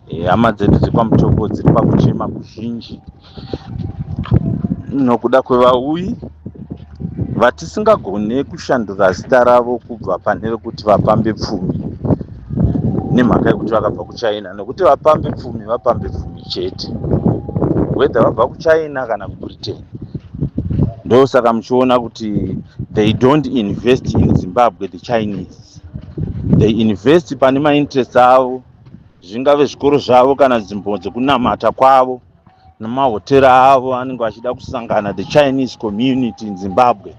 Eh, hama dzedu dzekwaMutoko dziri pakuchema kuzhinji nokuda kwevauyi vatisingagone kushandura zita ravo kubva pane rekuti vapambe pfumi nemhaka yekuti vakabva kuchina nokuti vapambe pfumi vapambe pfumi chete whethe vabva kuchina kana kubritain ndosaka muchiona kuti they don't invest in zimbabwe the chinese they invest pane mainterest avo zvingave zvikoro zvavo kana nzvimbo dzekunamata kwavo nemahotera avo anenge vachida kusangana the chinese community in zimbabwe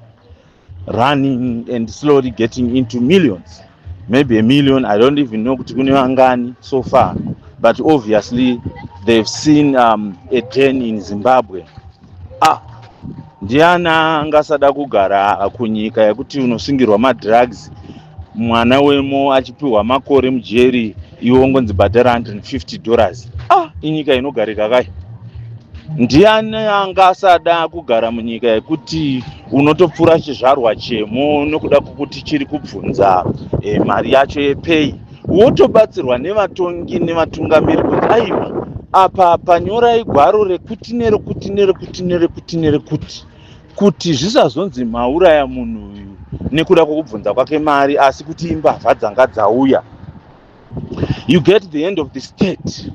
running and slowly getting into millions maybe a million i don't even know kuti kune vangani so far but obviously they've seen um, a den in zimbabwe ah ndiani angasada kugara kunyika yekuti unosungirwa madrugs mwana wemo achipiwa makore mujeri iwe ungonzi bhadhara 150 dollars ah inyika inogarika kai ndiani anga asada kugara munyika yekuti unotopfura chizvarwa chemo nokuda kwokuti chiri kubvunza e, mari yacho yepeyi wotobatsirwa nevatongi nevatungamiri kuti aiwa apa panyorai gwaro rekuti nerekuti nerekuti nerekuti nerekuti kuti zvisazonzi mauraya munhu uyu nekuda kwekubvunza kwake mari asi kuti imbavha dzanga dzauya you get the end of the state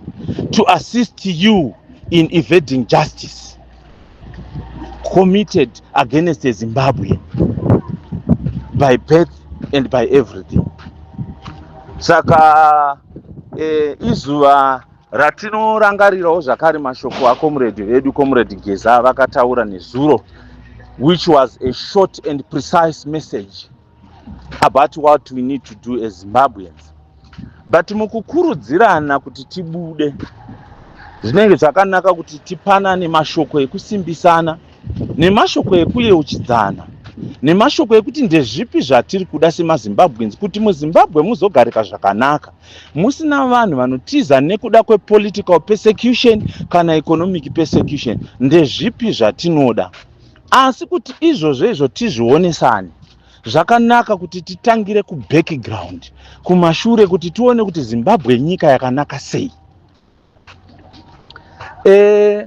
to assist you in evading justice committed against zimbabwe by birth and by everything saka eh, izuva Ratinorangarirawo zvakare mashoko aComrade vedu Comrade Geza avakataura nezuro which was a short and precise message about what we need to do as Zimbabweans. But mukukurudzirana kuti tibude zvinenge zvakanaka kuti tipanane mashoko ekusimbisana nemashoko ekuyeuchidzana nemashoko ekuti ndezvipi zvatiri kuda semazimbabweans kuti muzimbabwe muzogarika zvakanaka musina vanhu vanotiza nekuda kwepolitical persecution kana economic persecution ndezvipi zvatinoda asi kuti izvozvo izvo tizvionesane zvakanaka kuti titangire kubackground kumashure kuti tione kuti zimbabwe nyika yakanaka sei e,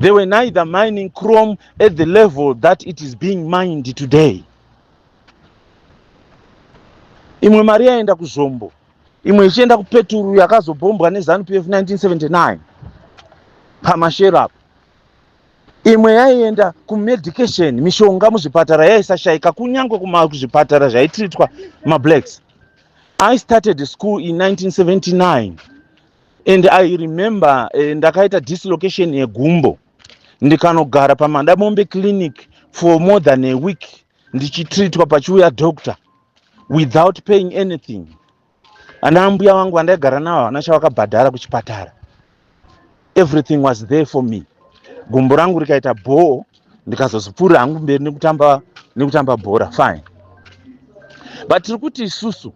They were neither mining chrome at the level that it is being mined today. Imwe mari yaenda kuzvombo, imwe ichienda kupeturu yakazobhombwa neZanu PF 1979 pamashero apo. Imwe yaienda kumedication, mishonga muzvipatara yaisashaika kunyange kuzvipatara zvaitritwa mablacks. I started school in 1979. and i remember eh, ndakaita dislocation yegumbo ndikanogara pamadamombe clinic for more than a week ndichitreatwa pachiuya doctor without paying anything ana ambuya vangu vandaigara navo havana chavakabhadhara kuchipatara everything was there for me gumbo rangu rikaita bhoo ndikazozipfuurira hangu mberi nekutamba nekutamba bhora fine but tiri kuti isusu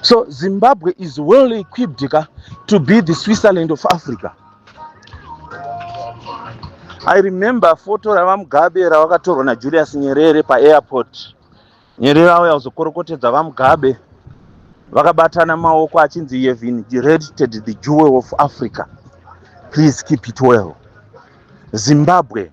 so zimbabwe is well equipped ka to be the switzerland of africa i remember foto ravamugabe ravakatorwa najulius nyerere paairport nyerere auya kuzokorokotedza vamugabe vakabatana maoko achinzi yevin directed the jewel of africa please keep it well zimbabwe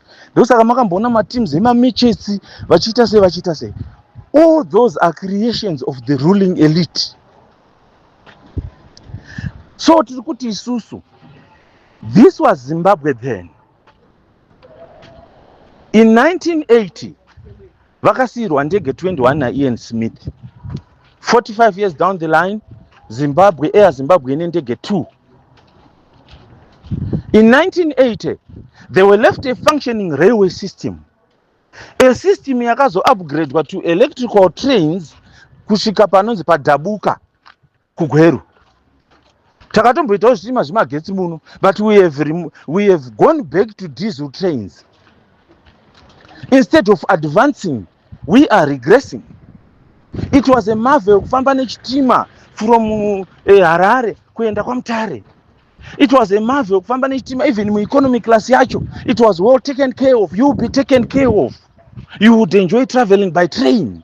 ndosaka makamboona mateams emamitchets vachiita sei vachiita sei all those are creations of the ruling elite so tiri kuti isusu this was zimbabwe then in 1980 vakasiirwa ndege 21 naian smith 45 years down the line zimbabwe air zimbabwe ine ndege 2 in 1980 they were left a functioning railway system a system yakazoupgradwa to electrical trains kusvika panonzi padabuka kugweru takatomboitawo zvitima zvemagetsi muno but we have, we have gone back to diesel trains instead of advancing we are regressing it was a marvel kufamba nechitima from uh, harare kuenda kwamutare it was a marvel kufamba nechitima even mueconomic class yacho it was well taken care of you be taken care of you would enjoy traveling by train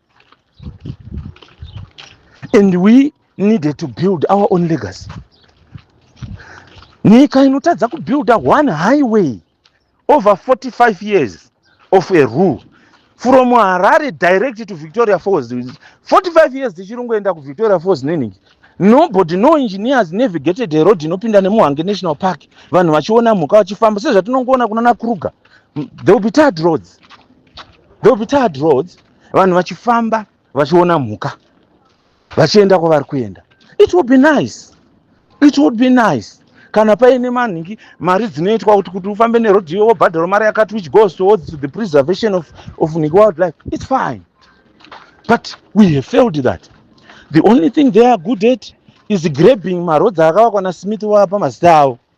and we needed to build our own legacy nyika inotadza kubuilda one highway over 45 years of a rule from harare direct to victoria falls 45 years tichirongoenda kuvictoria falls neningi nobody no engineers navigated road inopinda nemuhange national park vanhu vachiona mhuka vachifamba sezvatinongoona kunana kruger there will be tired roads there will be tired roads vanhu vachifamba vachiona mhuka vachienda kwavari kuenda it will be nice it would be nice kana paine manhingi mari dzinoitwa kuti kuti ufambe neroad iyo wobhadharo mari yakati which goes towards to the preservation of, of niki wildlife it's fine but we have failed that the only thing they are good at is grabbing maroads akavakwa nasmith wapa mazita avo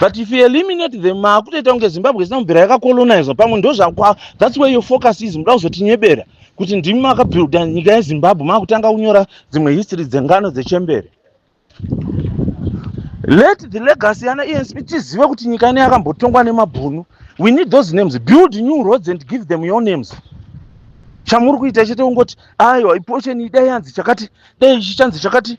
but if you eliminate them maakutoita kunge zimbabwe isina kubvira yakacolonizwa pamwe ndozvakwa thats where your focus is muda kuzotinyebera kuti ndimi makabuilda nyika yezimbabwe maakutanga kunyora dzimwe history dzengano dzechembere let the legacy yana ensp tizive kuti nyika ine yakambotongwa nemabhunu we need those names build new roads and give them your names chamuri kuita chete kungoti aiwa ipocheni idai yanzi chakati dai chichanzi chakati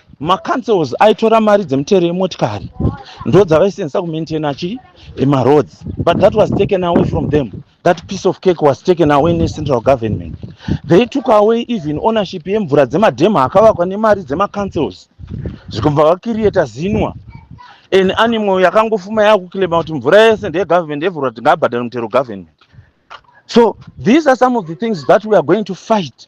macancels aitora mari dzemutero yemotikari ndo dzavaisenzisa kumaintaina chii emaroads but that was taken away from them that piece of cake was taken away necentral government they took away even ownership yemvura dzemadhema akavakwa nemari dzemacancels zvikubva vakiriyeta zinwa an animal yakangofuma yakukilema kuti mvura yese ndeyegovernment yevhurwa tingabhadhara mutero government so these are some of the things that we are going to fight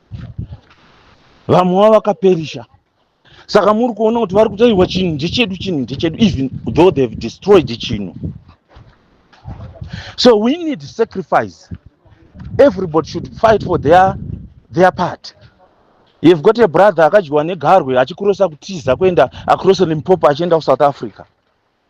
vamwe vavo vakaperisha saka muri kuona kuti vari kutarirwa chinhu ndechedu chinhu ndechedu even though they have destroyed chinhu so we need sacrifice everybody should fight for their, their part you've got a brother akadyiwa negarwe achikurosa kutiza kuenda akurosa limpopo achienda kusouth africa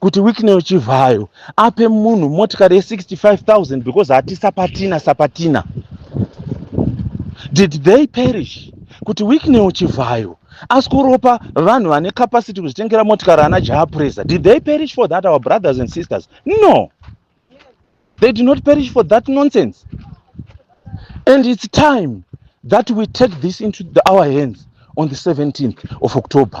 kuti wicknel chivhayo ape munhu motikari ye65000 because hati sapatina sapatina did they perish kuti wicknel chivhayo asi kuropa vanhu vane capacity kuzvitengera motikari ana jaapresa did they perish for that our brothers and sisters no they did not perish for that nonsense and it's time that we take this into the, our hands on the 17th of october